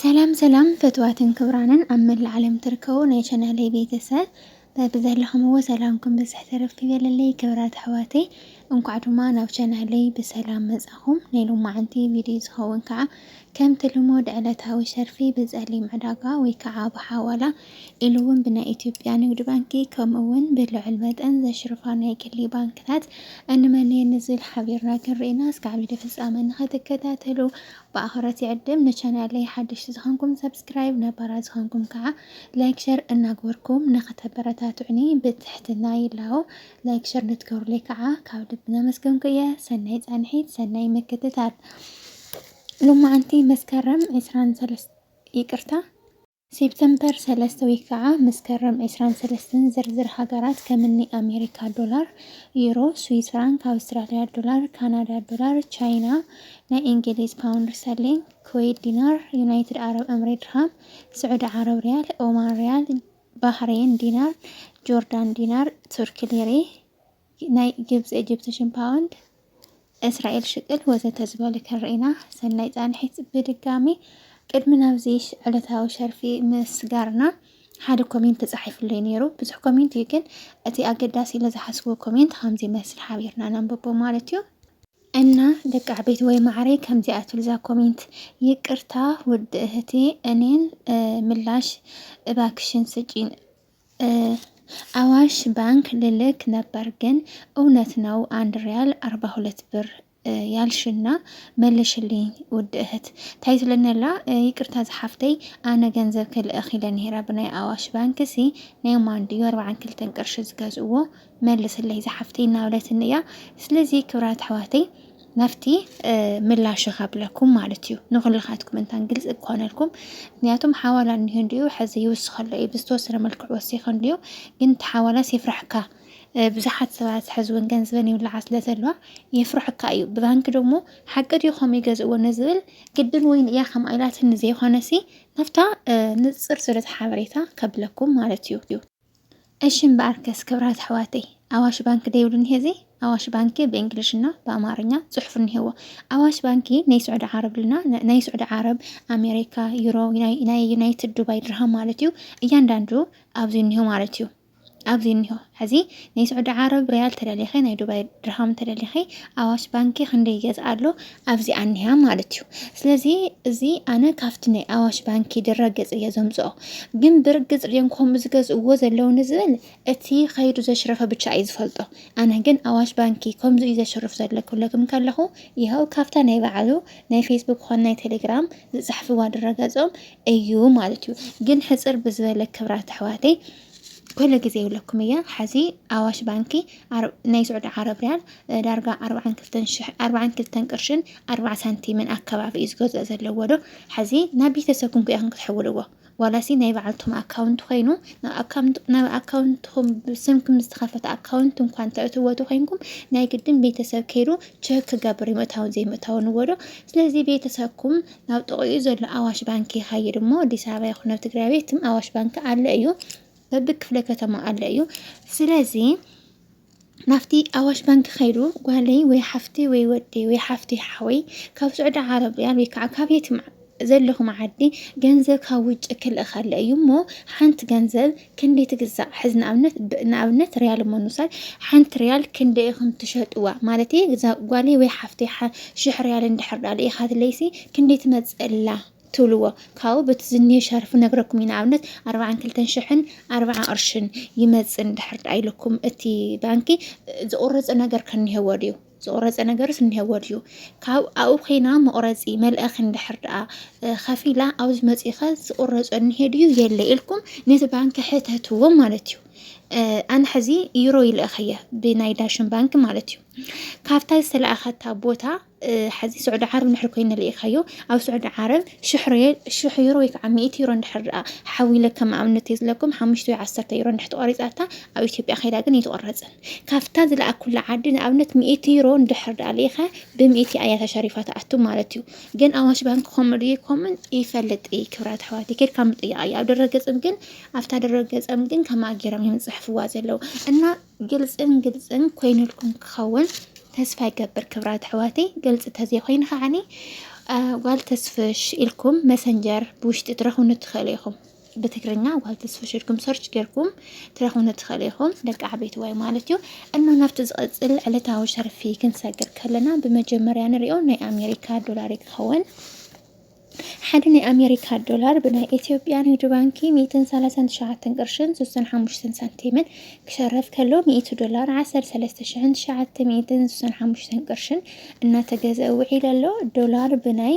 ሰላም ሰላም ፈትዋትን ክብራንን ኣብ መላእ ዓለም ትርከቡ ናይ ቻናለይ ቤተሰብ በብዘለኹምዎ ሰላምኩም ብዝሕ ተረፍ ይበለለይ ክብራት ኣሕዋተይ እንኳዕ ድማ ናብ ቻናለይ ብሰላም መጻኹም ናይ ሎማዓንቲ ቪድዮ ዝኸውን ከዓ ከምቲ ልሙድ ዕለታዊ ሸርፊ ብፀሊም ዕዳጋ ወይ ከዓ ብሓዋላ ኢሉ እውን ብናይ ኢትዮጵያ ንግድ ባንኪ ከምኡ እውን ብልዑል መጠን ዘሽርፋ ናይ ግሊ ባንክታት እንመን እየን ንዝብል ሓቢርና ክንርኢና እስከ ዓቢዲ ፍጻመ ንኸትከታተሉ ብኣኽብረት ይዕድም። ንቻናለይ ሓደሽቲ ዝኾንኩም ሰብስክራይብ፣ ነባራት ዝኾንኩም ከዓ ላይክ ሸር እናግበርኩም ንኸተበረታትዑኒ ብትሕትና ይላቦ። ላይክ ሸር ንትገብሩለይ ከዓ ካብ ልቢ ነመስገንኩ እየ። ሰናይ ጻንሒት፣ ሰናይ ምክትታል። ሎማዓንቲ መስከረም ዕስራን ሰለስተ ይቅርታ ሴፕተምፐር ሰለስተ ወይ ከኣ መስከረም ዕስራን ሰለስተን ዝርዝር ሃገራት ከምኒ ኣሜሪካ ዶላር፣ ዩሮ፣ ስዊዝ ፍራንክ፣ ኣውስትራልያ ዶላር፣ ካናዳ ዶላር፣ ቻይና፣ ናይ እንግሊዝ ፓውንድ ስተርሊንግ፣ ኩዌት ዲናር፣ ዩናይትድ ዓረብ እምሬ ድርሃም፣ ስዑዲ ዓረብ ሪያል፣ ኦማን ሪያል፣ ባህሬን ዲናር፣ ጆርዳን ዲናር፣ ቱርኪ ሊሬ፣ ናይ ግብፂ ኤጅፕቲሽን ፓውንድ እስራኤል ሽቅል ወዘተ ዝበሉ ክንርኢና ሰናይ ፃንሒት ብድጋሚ ቅድሚ ናብዚ ዕለታዊ ሸርፊ ምስጋርና ሓደ ኮሜንት ተጻሒፍሉ እዩ ነይሩ ብዙሕ ኮሜንት እዩ ግን እቲ ኣገዳሲ ኢለ ዝሓስብዎ ኮሜንት ከምዚ መስል ሓቢርና ነንብቦ ማለት እዩ እና ደቂ ዓበይቲ ወይ ማዕረይ ከምዚኣ ትብልዛ ኮሜንት ይቅርታ ውድ እህቴ እኔን ምላሽ እባክሽን ስጪን ኣዋሽ ባንክ ልልክ ነበር ግን እውነት ነው አንድ ሪያል ኣርባ ሁለት ብር ያልሽና መልሽልኝ ውድ እህት ታይ ትለነላ ይቅርታ ዝሓፍተይ ኣነ ገንዘብ ክልእኽ ኢለ ነይረ ብናይ ኣዋሽ ባንክ ሲ ናይ ማን ድዩ ኣርብዓን ክልተን ቅርሺ ዝገዝእዎ መልስለይ ዝሓፍተይ እናበለትኒ እያ ስለዚ ክብራት ኣሕዋተይ ናብቲ ምላሽ ካብለኩም ማለት እዩ ንኩልኻትኩም እንታን ግልፂ ክኾነልኩም ምክንያቱም ሓዋላ እኒሆ እንዲኡ ሕዚ ይውስኸሎ እዩ ብዝተወሰነ መልክዑ ወሲኸ እንዲኡ ግን እቲ ሓዋላስ የፍራሕካ ብዙሓት ሰባት ሕዚ እውን ገንዘበን ይብልዓ ስለ ዘለዋ የፍርሕካ እዩ ብባንኪ ደግሞ ሓቂ ድዩ ከምኡ ይገዝእዎ ንዝብል ግድን ወይን እያ ከም ኣይላትን ንዘይኮነሲ ናብታ ንፅር ዝበለት ሓበሬታ ከብለኩም ማለት እዩ እሺ እምበኣርከስ ክብራት ኣሕዋተይ ኣዋሽ ባንኪ ደይብሉ እኒሀ እዚ ኣዋሽ ባንኪ ብእንግሊሽና ብኣማርኛ ፅሑፍ እኒሄዎ ኣዋሽ ባንኪ ናይ ስዑዲ ዓረብ ልና ናይ ስዑዲ ዓረብ ኣሜሪካ ዩሮ ናይ ዩናይትድ ዱባይ ድርሃም ማለት እዩ እያንዳንዱ ኣብዚ እኒሆ ማለት እዩ ኣብዚ እኒሆ ሕዚ ናይ ስዑዲ ዓረብ ሪያል ተደሊኸ ናይ ዱባይ ድርሃም ተደሊኸ ኣዋሽ ባንኪ ክንደይ ይገዝኣ ኣሎ ኣብዚኣ እኒሃ ማለት እዩ። ስለዚ እዚ ኣነ ካብቲ ናይ ኣዋሽ ባንኪ ድረ ገፅ እየ ዘምፅኦ ግን ብርግፅ ድዮም ከምኡ ዝገዝእዎ ዘለዉ ንዝብል እቲ ከይዱ ዘሽረፈ ብቻ እዩ ዝፈልጦ። ኣነ ግን ኣዋሽ ባንኪ ከምዚ እዩ ዘሽርፍ ዘሎ ክብለኩም ከለኹ ይኸው ካብታ ናይ በዓሉ ናይ ፌስቡክ ኾን ናይ ቴሌግራም ዝፅሕፍዋ ድረ ገፆም እዩ ማለት እዩ። ግን ሕፅር ብዝበለ ክብራት ኣሕዋተይ ኩሉ ግዜ ይብለኩም እየ ሐዚ ኣዋሽ ባንኪ ናይ ስዑዲ ዓረብ ሪያል ዳርጋ ኣርብዓን ክልተን ሽሕ ኣርብዓን ክልተን ቅርሽን ኣርብዓ ሳንቲምን ኣከባቢ እዩ ዝገዝኦ ዘለዎ ዶ ሐዚ ናብ ቤተሰብኩም ክኢኹም ክትሕውልዎ ዋላሲ ናይ በዓልቶም ኣካውንት ኮይኑ ናብ ኣካውንትኹም ብስምኩም ዝተኸፈተ ኣካውንት እንኳ እንተእትዎ ተኮይንኩም ናይ ግድን ቤተሰብ ከይዱ ቸክ ክገብር እዩ ምእታውን ዘይምእታውን ወዶ ስለዚ ቤተሰብኩም ናብ ጥቕኡ ዘሎ ኣዋሽ ባንኪ ይኸይድ እሞ ኣዲስ ኣበባ ይኹን ኣብ ትግራይ ቤትም ኣዋሽ ባንኪ ኣለ እዩ በቢ ክፍለ ከተማ ኣለ እዩ ስለዚ ናብቲ ኣዋሽ ባንኪ ከይዱ ጓለይ ወይ ሓፍቲ ወይ ወዲ ወይ ሓፍቲ ሓወይ ካብ ስዑዲ ዓረብያ ወይ ከዓ ካብ የትም ዘለኹም ዓዲ ገንዘብ ካብ ውጭ ክልእኸለ እዩ እሞ ሓንቲ ገንዘብ ክንደይ ትግዛእ ሕዚ ንኣብነት ንኣብነት ሪያል እሞ ንውሰድ ሓንቲ ሪያል ክንደይ ኢኹም ትሸጥዋ ማለት እየ ግዛ ጓለይ ወይ ሓፍተይ ሽሕ ሪያል እንድሕር ዳኣ ልኢኻትለይሲ ክንደይ ትመፅእላ ትብልዎ ካብኡ በቲ ዝኒሀ ሸርፊ ነግረኩም እዩ ንኣብነት ኣርባዓን ክልተን ሽሕን ኣርባዓ ቅርሽን ይመፅእ እንድሕር ዳኣ ኢልኩም እቲ ባንኪ ዝቑረፆ ነገር ከኒሀዎ ድዩ ዝቑረፀ ነገርስ እኒሀዎ ድዩ ካብ ኣብኡ ኮይና መቑረፂ መልእኽ እንድሕር ደኣ ከፊላ ኣብዚ መፂኸ ዝቑረፆ እኒሄ ድዩ የለ ኢልኩም ነቲ ባንኪ ሕተትዎ ማለት እዩ ኣነ ሕዚ ዩሮ ይልእኽ እየ ብናይ ዳሽን ባንክ ማለት እዩ ካብታ ዝተለኣኸታ ቦታ ሕዚ ስዑዲ ዓረብ ንድሕር ኮይኑ ልኢኻዮ ኣብ ስዑዲ ዓረብ ሽሕ ዩሮ ወይ ከዓ ሚእቲ ዩሮ ንድሕር ደኣ ሓዊለ ከም ኣብነት እየ ዝለኩም ሓሙሽተ ወይ ዓሰርተ ዩሮ ንድሕር ተቆሪፃታ ኣብ ኢትዮጵያ ከይዳ ግን ይትቆረፅን ካብታ ዝለኣኩላ ዓዲ ንኣብነት ሚእቲ ዩሮ እንድሕር ደኣ ልኢኸ ብሚእቲ ኣያ ተሸሪፋ ትኣቱ ማለት እዩ። ግን ኣዋሽ ባንክ ከምኡ ድዩ ከምኡን ይፈልጥ እይ ክብራት ኣሕዋት ኬድካ ምጥያቕ እዩ። ኣብ ድረገጽም ግን ኣብታ ድረገጸም ግን ከማኣ ጌሮም እዮም ዝጽሕፍዋ ዘለዉ እና ግልጽን ግልጽን ኮይኑልኩም ክኸውን ተስፋ ይገብር ክብራት ኣሕዋተይ ግልፂ ተዘይኮይኑ ከዓኒ ጓል ተስፍሽ ኢልኩም መሰንጀር ብውሽጢ ትረኽቡኒ ትኽእሉ ኢኹም ብትግርኛ ጓል ተስፍሽ ኢልኩም ሰርች ጌርኩም ትረኽቡኒ ትኽእሉ ኢኹም ደቂ ዓበይቲ ዋይ ማለት እዩ እሞ ናብቲ ዝቐፅል ዕለታዊ ሸርፊ ክንሰግር ከለና ብመጀመርያ ንሪኦ ናይ ኣሜሪካ ዶላር እዩ ክኸውን ሓደ ናይ ኣሜሪካ ዶላር ብናይ ኢትዮጵያ ንግዲ ባንኪ 139 ቅርሽን 65 ሳንቲምን ክሸረፍ ከሎ 100 ዶላር 13965 ቅርሽን እናተገዘ ውዒል ኣሎ ዶላር ብናይ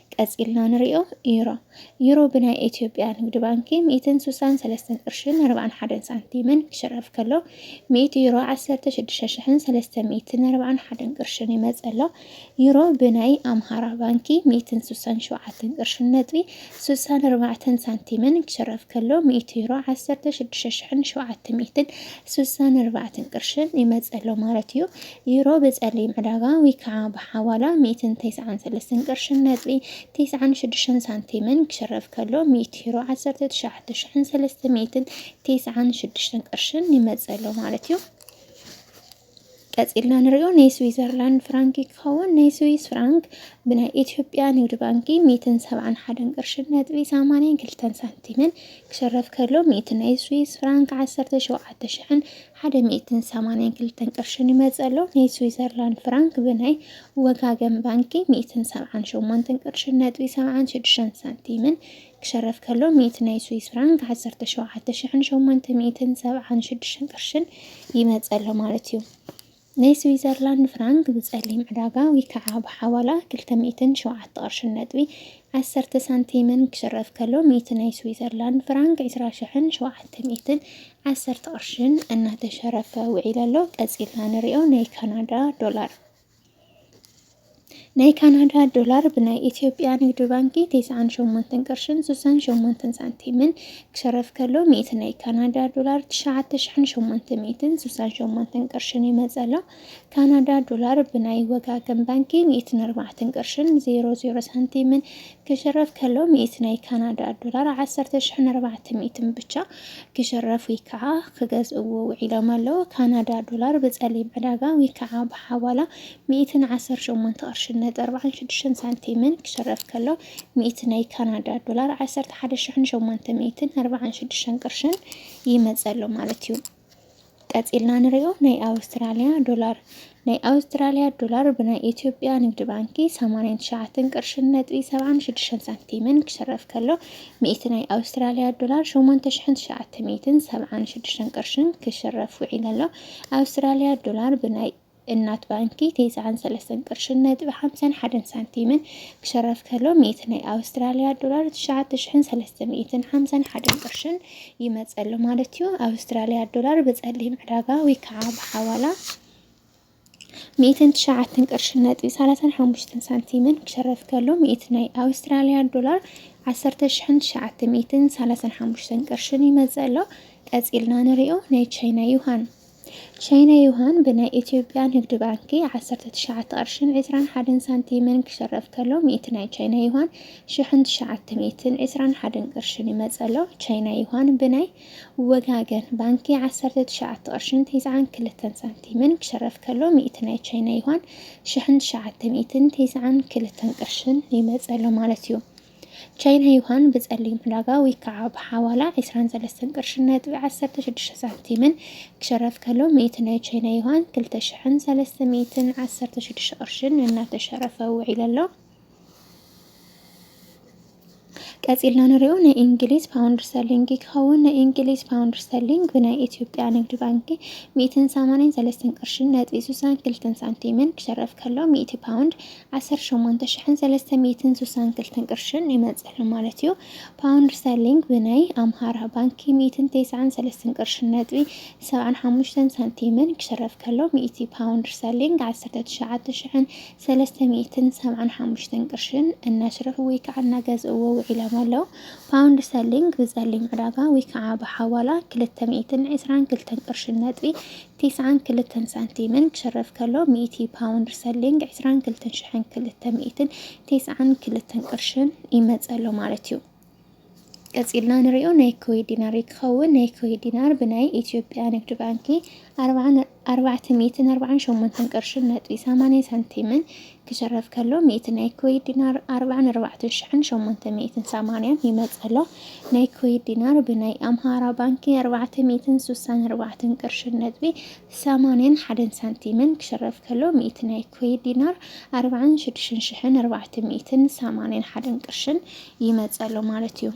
ቀጺልና ንሪኦ ዩሮ ዩሮ ብናይ ኢትዮጵያ ንግድ ባንኪ ሚእትን ስሳን ሰለስተን ቅርሽን ኣርባዕን ሓደን ሳንቲምን ክሽረፍ ከሎ ሚእቲ ዩሮ ዓሰርተ ሽዱሽተ ሽሕን ሰለስተ ሚእትን ኣርባዕን ሓደን ቅርሽን ይመጽእ ኣሎ። ዩሮ ብናይ ኣምሃራ ባንኪ ሚእትን ስሳን ሸውዓተን ቅርሽን ነጥቢ ስሳን ኣርባዕተን ሳንቲምን ክሽረፍ ከሎ ሚእቲ ዩሮ ዓሰርተ ሽዱሽተ ሽሕን ሸውዓተ ሚእትን ስሳን ኣርባዕተን ቅርሽን ይመጽእ ኣሎ ማለት እዩ። ዩሮ ብጸሊም ዕዳጋ ወይ ከኣ ብሓዋላ ሚእትን ተስዓን ሰለስተን ቅርሽን ነጥቢ ተስዓን ሽዱሽተን ሳንቲምን ክሽረፍ ከሎ፣ ሚእቲ ዩሮ ዓሰርተ ትሽዓተ ሽሕን ሰለስተ ሚእትን ተስዓን ሽዱሽተን ቅርሽን ይመጽእ ኣሎ ማለት እዩ። ቀጺልና ንሪኦ ናይ ስዊዘርላንድ ፍራንክ ክኸውን ናይ ስዊስ ፍራንክ ብናይ ኢትዮጵያ ንግድ ባንኪ ሚእትን ሰብዓን ሓደን ቅርሽን ነጥቢ ሰማንያን ክልተን ሳንቲምን ክሽረፍ ከሎ ሚእቲ ናይ ስዊስ ፍራንክ ዓሰርተ ሸውዓተ ሽሕን ሓደ ሚእትን ሰማንያን ክልተን ቅርሽን ይመጽእ ኣሎ። ናይ ስዊዘርላንድ ፍራንክ ብናይ ወጋገን ባንኪ ሚእትን ሰብዓን ሸሞንተን ቅርሽን ነጥቢ ሰብዓን ሽዱሽተን ሳንቲምን ክሸረፍ ከሎ ሚእቲ ናይ ስዊስ ፍራንክ ዓሰርተ ሸውዓተ ሽሕን ሸሞንተ ሚእትን ሰብዓን ሽዱሽተን ቅርሽን ይመጽእ ኣሎ ማለት እዩ። ናይ ስዊዘርላንድ ፍራንክ ብጸሊም ዕዳጋ ወይከዓ ብሓዋላ ክልተ ሚእትን ሸውዓተ ቅርሽን ነጥቢ ዓሰርተ ሳንቲምን ክሽረፍ ከሎ ሚእቲ ናይ ስዊዘርላንድ ፍራንክ ዕስራ ሽሕን ሸውዓተ ሚእትን ዓሰርተ ቅርሽን እናተሸረፈ ውዒሉ ኣሎ። ቀጺልና ንሪኦ ናይ ካናዳ ዶላር። ናይ ካናዳ ዶላር ብናይ ኢትዮጵያ ንግድ ባንኪ ቴስዓን ሸሞንተን ቅርሽን ስሳን ሸሞንተን ሳንቲምን ክሸረፍ ከሎ ሚእቲ ናይ ካናዳ ዶላር ትሽዓተ ሽሕን ሸሞንተ ሚእትን ስሳን ሸሞንተን ቅርሽን ይመጸሎ። ካናዳ ዶላር ብናይ ወጋገን ባንኪ ሚእትን ኣርባዕተን ቅርሽን ዜሮ ዜሮ ሳንቲምን ክሸረፍ ከሎ ሚእቲ ናይ ካናዳ ዶላር ዓሰርተ ሽሕን ኣርባዕተ ሚእትን ብቻ ክሸረፍ ወይ ከዓ ክገዝእዎ ውዒሎም ኣለዉ። ካናዳ ዶላር ብጸሊም ዕዳጋ ወይ ከዓ ብሓዋላ ሚእትን ዓሰርተ ሸሞንተ ቅርሽን ነጥቢ ኣርብዓን ሽዱሽተን ሳንቲምን ክሽረፍ ከሎ፣ ሚእቲ ናይ ካናዳ ዶላር ዓሰርተ ሓደ ሽሕን ሸሞንተ ሚእትን ኣርብዓን ሽዱሽተን ቅርሽን ይመጽእ ኣሎ ማለት እዩ። ቀጺልና ንሪኦ ናይ ኣውስትራልያ ዶላር ናይ ኣውስትራልያ ዶላር ብናይ ኢትዮጵያ ንግዲ ባንኪ ሰማንያን ትሽዓተን ቅርሽን ነጥቢ ሰብዓን ሽዱሽተን ሳንቲምን ክሽረፍ ከሎ፣ ሚእቲ ናይ ኣውስትራልያ ዶላር ሸሞንተ ሽሕን ትሽዓተ ሚእትን ሰብዓን ሽዱሽተን ቅርሽን ክሽረፍ ውዒሉ ኣሎ። ኣውስትራልያ ዶላር ብናይ እናት ባንኪ ቴስዓን ሰለስተን ቅርሽን ነጥቢ ሓምሳን ሓደን ሳንቲምን ክሸረፍ ከሎ ሚእቲ ናይ ኣውስትራልያ ዶላር ትሽዓተ ሽሕን ሰለስተ ሚእትን ሓምሳን ሓደን ቅርሽን ይመጽእ ኣሎ ማለት እዩ። ኣውስትራልያ ዶላር ብጸሊም ዕዳጋ ወይ ከዓ ብሓዋላ ሚእትን ትሽዓተን ቅርሽን ነጥቢ ሰላሳን ሓሙሽተን ሳንቲምን ክሸረፍ ከሎ ሚእቲ ናይ ኣውስትራልያ ዶላር ዓሰርተ ሽሕን ትሽዓተ ሚእትን ሰላሳን ሓሙሽተን ቅርሽን ይመጽእ ኣሎ። ቀጺልና ንሪኦ ናይ ቻይና ዩሃን ቻይና ዩሃን ብናይ ኢትዮጵያ ንግድ ባንኪ ዓሰርተ ትሽዓተ ቅርሽን ዕስራን ሓደን ሳንቲምን ክሸረፍ ከሎ ሚእቲ ናይ ቻይና ዩሃን ሽሕን ትሽዓተ ሚእትን ዕስራን ሓደን ቅርሽን ይመጸሎ ቻይና ዩሃን ብናይ ወጋገን ባንኪ ዓሰርተ ትሽዓተ ቅርሽን ተስዓን ክልተን ሳንቲምን ክሸረፍ ከሎ ሚእቲ ናይ ቻይና ዩሃን ሽሕን ትሽዓተ ሚእትን ተስዓን ክልተን ቅርሽን ይመጸሎ ማለት እዩ። ቻይና ዩሃን ብጸሊም ዕዳጋ ወይ ከዓ ብሓዋላ ዕስራን ሰለስተን ቅርሽን ነጥቢ ዓሰርተ ሽዱሽተ ሳንቲምን ክሸረፍ ከሎ ሚእቲ ናይ ቻይና ዩሃን ክልተ ሽሕን ሰለስተ ሚእትን ዓሰርተ ሽዱሽተ ቅርሽን እናተሸረፈ ውዒሉ ኣሎ። ቀጺልና ንሪኦ ናይ እንግሊዝ ፓውንድ ስተርሊንግ ክኸውን ናይ እንግሊዝ ፓውንድ ስተርሊንግ ብናይ ኢትዮጵያ ንግዲ ባንኪ ሚእትን ሰማንያን ሰለስተን ቅርሽን ነጥቢ ሱሳን ክልተን ሳንቲምን ክሸረፍ ከሎ ሚእቲ ፓውንድ ዓሰርተ ሸሞንተ ሽሕን ሰለስተ ሚእትን ስሳን ክልተን ቅርሽን ይመጽእ ኣሎ ማለት እዩ። ፓውንድ ስተርሊንግ ብናይ ኣምሃራ ባንኪ ሚእትን ቴስዓን ሰለስትን ቅርሽን ነጥቢ ሰብዓን ሓሙሽተን ሳንቲምን ክሽረፍ ከሎ ሚእቲ ፓውንድ ስተርሊንግ ዓሰርተ ትሽዓተ ሽሕን ሰለስተ ሚእትን ሰብዓን ሓሙሽተን ቅርሽን እናሽረፉ ወይ ከዓ እናገዝእዎ ውዒሎም ኣለው። ፓውንድ ስተርሊንግ ብጸሊም ዕዳጋ ወይ ከዓ ብሓዋላ ክልተ ሚእትን ዕስራን ክልተን ቅርሽን ነጥቢ ቲስዓን ክልተን ሳንቲምን ክሽረፍ ከሎ፣ ሚእቲ ፓውንድ ስተርሊንግ፣ ዕስራን ክልተን ሽሕን ክልተ ሚእትን ቲስዓን ክልተን ቅርሽን፣ ይመጽእ ኣሎ ማለት እዩ። ቀጺልና ንሪኦ ናይ ኩዌት ዲናር እዩ ክኸውን። ናይ ኩዌት ዲናር ብናይ ኢትዮጵያ ንግድ ባንኪ ኣርባዕን ኣርባዕተ ሚእትን ኣርባዓን ሸሞንተን ቅርሽን ነጥቢ ሰማንያ ሳንቲምን ክሽረፍ ከሎ ሚእቲ ናይ ኩዌት ዲናር ኣርብዓን ኣርባዕተ ሽሕን ሸሞንተ ሚእትን ሰማንያን ይመጸሎ ናይ ኩዌት ዲናር ብናይ ኣምሃራ ባንኪ ኣርባዕተ ሚእትን ሱሳን ኣርባዕተን ቅርሽን ነጥቢ ሰማንያን ሓደን ሳንቲምን ክሽረፍ ከሎ ሚእቲ ናይ ኩዌት ዲናር ኣርብዓን ሽዱሽን ሽሕን ኣርባዕተ ሚእትን ሰማንያን ሓደን ቅርሽን ይመጸሎ ማለት እዩ።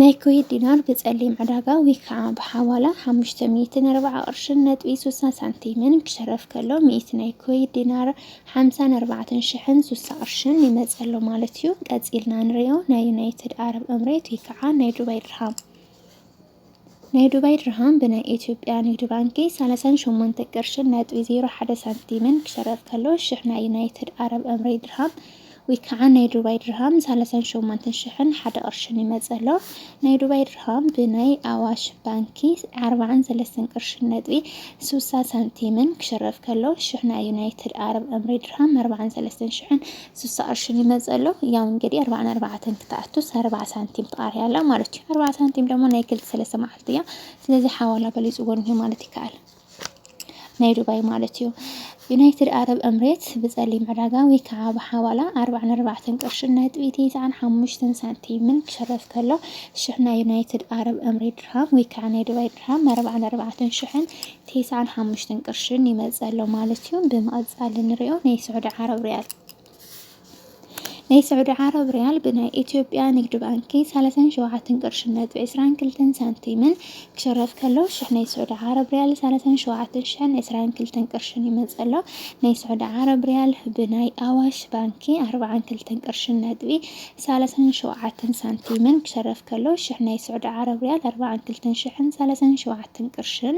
ናይ ኩዌት ዲናር ብጸሊም ዕዳጋ ወይ ከዓ ብሓዋላ 540 ቅርሽን ነጥቢ 60 ሳንቲምን ክሸረፍ ከሎ ሚእቲ ናይ ኩዌት ዲናር 54 ሽሕን 60 ቅርሽን ይመጸሎ ማለት እዩ። ቀጺልና ንሪኦ ናይ ዩናይትድ ዓረብ እምሬት ወይ ከዓ ናይ ዱባይ ድርሃም ናይ ዱባይ ድርሃም ብናይ ኢትዮጵያ ንግድ ባንኪ ሰላሳን ሸሞንተ ቅርሽን ነጥቢ ዜሮ ሓደ ሳንቲምን ክሸረፍ ከሎ ሽሕ ናይ ዩናይትድ ኣረብ እምሬት ድርሃም ወይ ከዓ ናይ ዱባይ ድርሃም ሰላሳን ሸሞንተን ሽሕን ሓደ ቅርሽን ይመፅእ ኣሎ። ናይ ዱባይ ድርሃም ብናይ ኣዋሽ ባንኪ ዓርባዓን ሰለስተን ቅርሽን ነጥቢ ስሳ ሳንቲምን ክሸረፍ ከሎ ሽሕ ናይ ዩናይትድ ኣረብ እምሬት ድርሃም ኣርባዓን ሰለስተን ሽሕን ስሳ ቅርሺ ይመጽእ ኣሎ ያው እንግዲህ ኣርባዓን ኣርባዓተን ክትኣቱስ ኣርባዓ ሳንቲም ትቃርያ ኣላ ማለት እዩ ኣርባዓ ሳንቲም ደሞ ናይ ክልተ ሰለስተ መዓልቲ እያ ስለዚ ሓዋላ በሊጽዎ እንሄ ማለት ይከኣል ናይ ዱባይ ማለት እዩ ዩናይትድ ኣረብ እምሬት ብጸሊም ዕዳጋ ወይ ከዓ ብሓዋላ ኣርባዓን ኣርባዕተን ቅርሽን ነጥቢ ትስዓን ሓሙሽተን ሳንቲምን ክሸረፍ ከሎ ሽሕ ናይ ዩናይትድ ኣረብ እምሬት ድርሃም ወይ ከዓ ናይ ዱባይ ድርሃም ኣርባዓን ኣርባዕተን ሽሕን ቴስዓን ሓሙሽተን ቅርሽን ይመጽእ ኣሎ ማለት እዩ። ብምቕጻል እንሪኦ ናይ ስዑዲ ዓረብ ሪያል ናይ ስዑዲ ዓረብ ሪያል ብናይ ኢትዮጵያ ንግድ ባንኪ ሰላሳን ሸውዓተን ቅርሽን ነጥቢ ዕስራን ክልተን ሳንቲምን ክሽረፍ ከሎ ሽሕ ናይ ስዑዲ ዓረብ ሪያል ሰላሳን ሸውዓተን ሽሕን ዕስራን ክልተን ቅርሽን ይመጽእ ኣሎ። ናይ ስዑዲ ዓረብ ሪያል ብናይ ኣዋሽ ባንኪ ኣርባዓን ክልተን ቅርሽን ነጥቢ ሳላሳን ሸውዓተን ሳንቲምን ክሸረፍ ከሎ ሽሕ ናይ ስዑዲ ዓረብ ሪያል ኣርባዓን ክልተን ሽሕን ሳላሳን ሸውዓተን ቅርሽን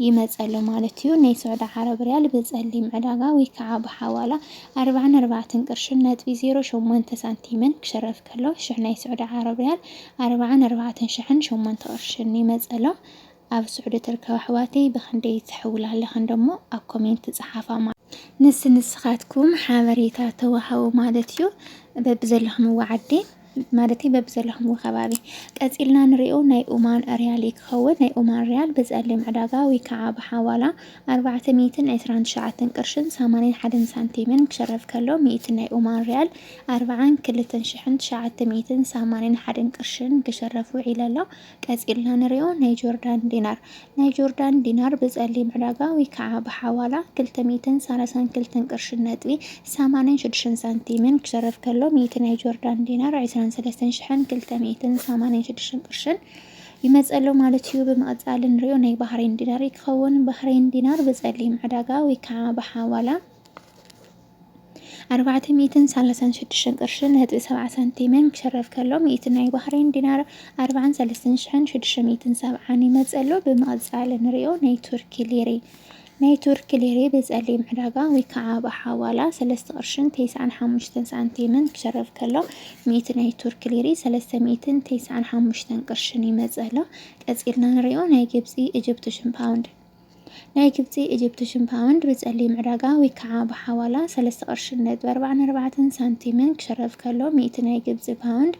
ይመጽእ ኣሎ ማለት እዩ። ናይ ስዑዲ ዓረብ ሪያል ብጸሊም ዕዳጋ ወይ ከዓ ብሓዋላ ኣርባዓን ኣርባዕተን ቅርሽን ነጥቢ ዜሮ ሸሞንተ ሳንቲምን ክሸረፍ ከሎ ሽሕ ናይ ስዑዲ ዓረብ ሪያል ኣርባዓን ኣርባዕተን ሽሕን ሸሞንተ ቅርሽን ይመጽእ ኣሎ። ኣብ ስዑዲ ትርከባ ኣሕዋተይ ብክንደይ ትሕውላ ኣለኪ እንደሞ ኣብ ኮሜንት ጸሓፋ ማለት ንስ ንስኻትኩም ሓበሬታ ተዋሃቡ ማለት እዩ በብዘለኹምዎ ዓዲ ማለት በብዘለኹምዎ ከባቢ ቀጺልና ንሪኦ ናይ ኡማን ሪያል እዩ ክኸውን ናይ ኡማን ሪያል ብጸሊም ዕዳጋ ወይ ከዓ ብሓዋላ ኣርባዕተ ሚእትን ዕስራን ትሽዓተን ቅርሽን ሰማንያን ሓደን ሳንቲምን ክሸረፍ ከሎ ሚእቲ ናይ ኡማን ሪያል ኣርባዓን ክልተን ሽሕን ትሽዓተ ሚእትን ሰማንያን ሓደን ቅርሽን ክሸረፍ ውዒሉ ኣሎ ቀጺልና ንሪኦ ናይ ጆርዳን ዲናር። ናይ ጆርዳን ዲናር ብጸሊም ዕዳጋ ወይ ከዓ ብሓዋላ ክልተ ሚእትን ሳላሳን ክልተን ቅርሽን ነጥቢ ሰማንያን ሽዱሽተን ሳንቲምን ክሸረፍ ከሎ ሚእቲ ናይ ጆርዳን ዲናር ዕስራን ሰለስተን ሽሕን ክልተ ሚእትን ሰማንያን ሽዱሽተን ቅርሽን ይመጸሎ ማለት እዩ። ብምቕጻል እንሪኦ ናይ ባህሬን ዲናር ክኸውን ባህሬን ዲናር ብጸሊም ዕዳጋ ወይ ከዓ ብሓዋላ ኣርባዕተ ሚእትን ሳላሳን ሽዱሽተን ቅርሽን ነጥቢ ሰብዓ ሳንቲምን ክሽረፍ ከሎ ሚእቲ ናይ ባህሬን ዲናር ኣርባዓን ሰለስተን ሽሕን ሽዱሽተ ሚእትን ሰብዓን ይመጽእ ኣሎ። ብምቕጻል ንርእዮ ናይ ቱርኪ ሊሪ። ናይ ቱርኪ ሊሪ ብጸሊም ዕዳጋ ወይ ከኣ ብሓዋላ ሰለስተ ቅርሽን ተስዓን ሓሙሽተን ሳንቲምን ክሽረፍ ከሎ ሚእቲ ናይ ቱርኪ ሊሪ ሰለስተ ሚእትን ተስዓን ሓሙሽተን ቅርሽን ይመጽእ ኣሎ። ቀጺልና ንርእዮ ናይ ግብጺ፣ ኢጅፕትሽን ፓውንድ። ናይ ግብጺ ኢጂፕትሽን ፓውንድ ብጸሊም ዕዳጋ ወይ ከዓ ብሓዋላ ሰለስተ ቅርሽን ነጥቢ ኣርባዓን ኣርባዕተን ሳንቲምን ክሽረፍ ከሎ ሚእቲ ናይ ግብጺ ፓውንድ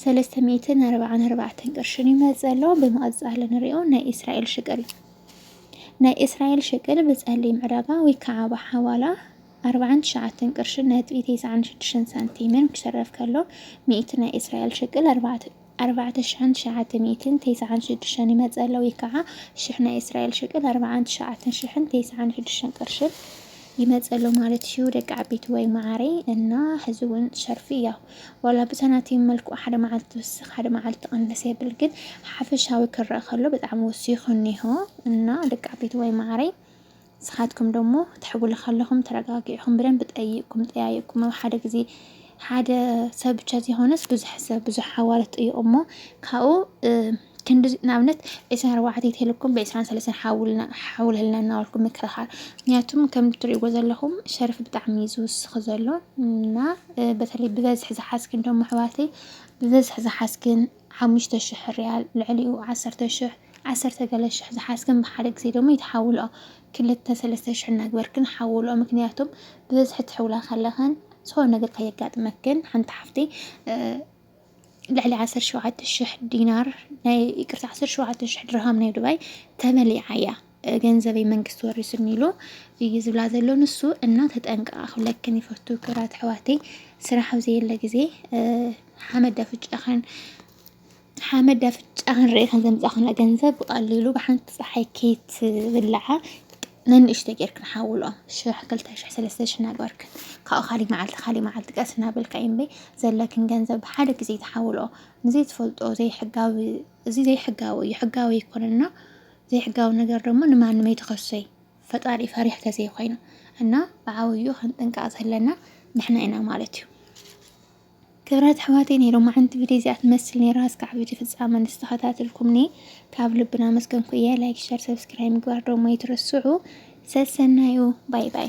ሰለስተ ሚእትን ኣርባዓን ኣርባዕተን ቅርሽን ይመጽእ ኣሎ። ብምቕጻል ንሪኦ ናይ እስራኤል ሽቅል ናይ እስራኤል ሽቅል ብጸሊም ዕዳጋ ወይ ከዓ ብሓዋላ ኣርባዓን ትሽዓተን ቅርሽን ነጥቢ ተስዓን ሽዱሽተን ሳንቲምን ክሽረፍ ከሎ ሚእቲ ናይ እስራኤል ሽቅል ኣርባዕተ ኣርባዕተ ሽሕን ትሽዓተ ሚእትን ቴስዓን ሽዱሽተን ይመጸ ኣሎ፣ ወይ ከኣ ሽሕ ናይ እስራኤል ሽቅል ኣርባዓን ትሽዓተን ሽሕን ቴስዓን ሽዱሽተን ቅርሽን ይመጸ ኣሎ ማለት እዩ ደቂ ዓቢትወይ መዓረይ እና ሕዚ እውን ሸርፊ እያ ዋላ ብሰናቲም መልክዑ ሓደ መዓልቲ ትውስኽ ሓደ መዓልቲ ትቕንስ የብል ግን ሓፈሻዊ ክረእ ከሎ ብጣዕሚ ወሲኹ እኒሆ እና ደቂ ዓቢትወይ መዓረይ ንስኻትኩም ደሞ ትሕብሉ ከለኹም ተረጋጊዕኹም ብደንቢ ጠይቅኩም ጠያይቅኩም ኣብ ሓደ ግዜ ሓደ ሰብ ብቻ ዘይኮነስ ብዙሕ ሰብ ብዙሕ ሓዋርት ጠይቁ እሞ ካብኡ ክንዲ ንኣብነት ዕስራን ኣርባዕተ ተልኩም ብዕስራን ሰለስተ ሓውልልና እናበልኩም ምክርኻር ምክንያቱም ከም እትሪእዎ ዘለኹም ሸርፊ ብጣዕሚ እዩ ዝውስኽ ዘሎ እና በተለይ ብበዝሒ ዝሓዝክን ደሞ ኣሕዋተይ ብበዝሒ ዝሓዝክን ሓሙሽተ ሽሕ ርያል ልዕሊኡ ዓሰርተ ሽሕ ዓሰርተ ገለ ሽሕ ዝሓዝክን ብሓደ ግዜ ደሞ ኣይትሓውልኦ ክልተ ሰለስተ ሽሕ እናግበርክን ሓውልኦ ምክንያቱም ብበዝሒ ትሕውላ ከለክን ዝኮነ ነገር ከየጋጥመክን ሓንቲ ሓፍተይ ልዕሊ ዓሰርተ ሸውዓተ ሽሕ ዲናር ናይ ይቅርታ ዓሰርተ ሸውዓተ ሽሕ ድርሃም ናይ ዱባይ ተመሊዓ እያ ገንዘበይ መንግስቲ ወሪሱኒ ኢሉ እዩ ዝብላ ዘሎ ንሱ እና ተጠንቀቃ ክብለክን ይፈቱ ክብራት ሕዋተይ ስራሕ ኣብ ዘየለ ግዜ ሓመድ ኣፍጫኸን ሓመድ ኣፍጫኸን ርእኸን ዘምፃኸና ገንዘብ ብቀሊሉ ብሓንቲ ፀሓይ ኬት ብላዓ ነንእሽተ ጌርክን ሓውሎ ሽሕ ክልተ ሽሕ ሰለስተ ሽሕ ናግበርክን ካብኡ ካሊእ መዓልቲ ካሊእ መዓልቲ ቀስ እናበልካ እምበ ዘለክን ገንዘብ ብሓደ ግዜ ተሓውሎ ንዘይ ትፈልጦ ዘይሕጋዊ እዚ ዘይሕጋዊ እዩ ሕጋዊ ኣይኮነና ዘይሕጋዊ ነገር ደሞ ንማንም ኣይትኸሶይ ፈጣሪ ፈሪሕ ተዘይኮይኑ እና ብዓብዩ ክንጥንቀቅ ዘለና ንሕና ኢና ማለት እዩ። ክብራት ኣሕዋተይ ናይ ሎማዓንቲ ቪድዮ እዚኣ ትመስል ነይራ እስካዕ ቪድዮ ፍጻመ ንዝተኸታተልኩምኒ ካብ ልብና መስገንኩ እየ ላይክ ሸር ሰብስክራይብ ምግባር ደሞ ኣይትረስዑ ሰሰናዩ ባይ ባይ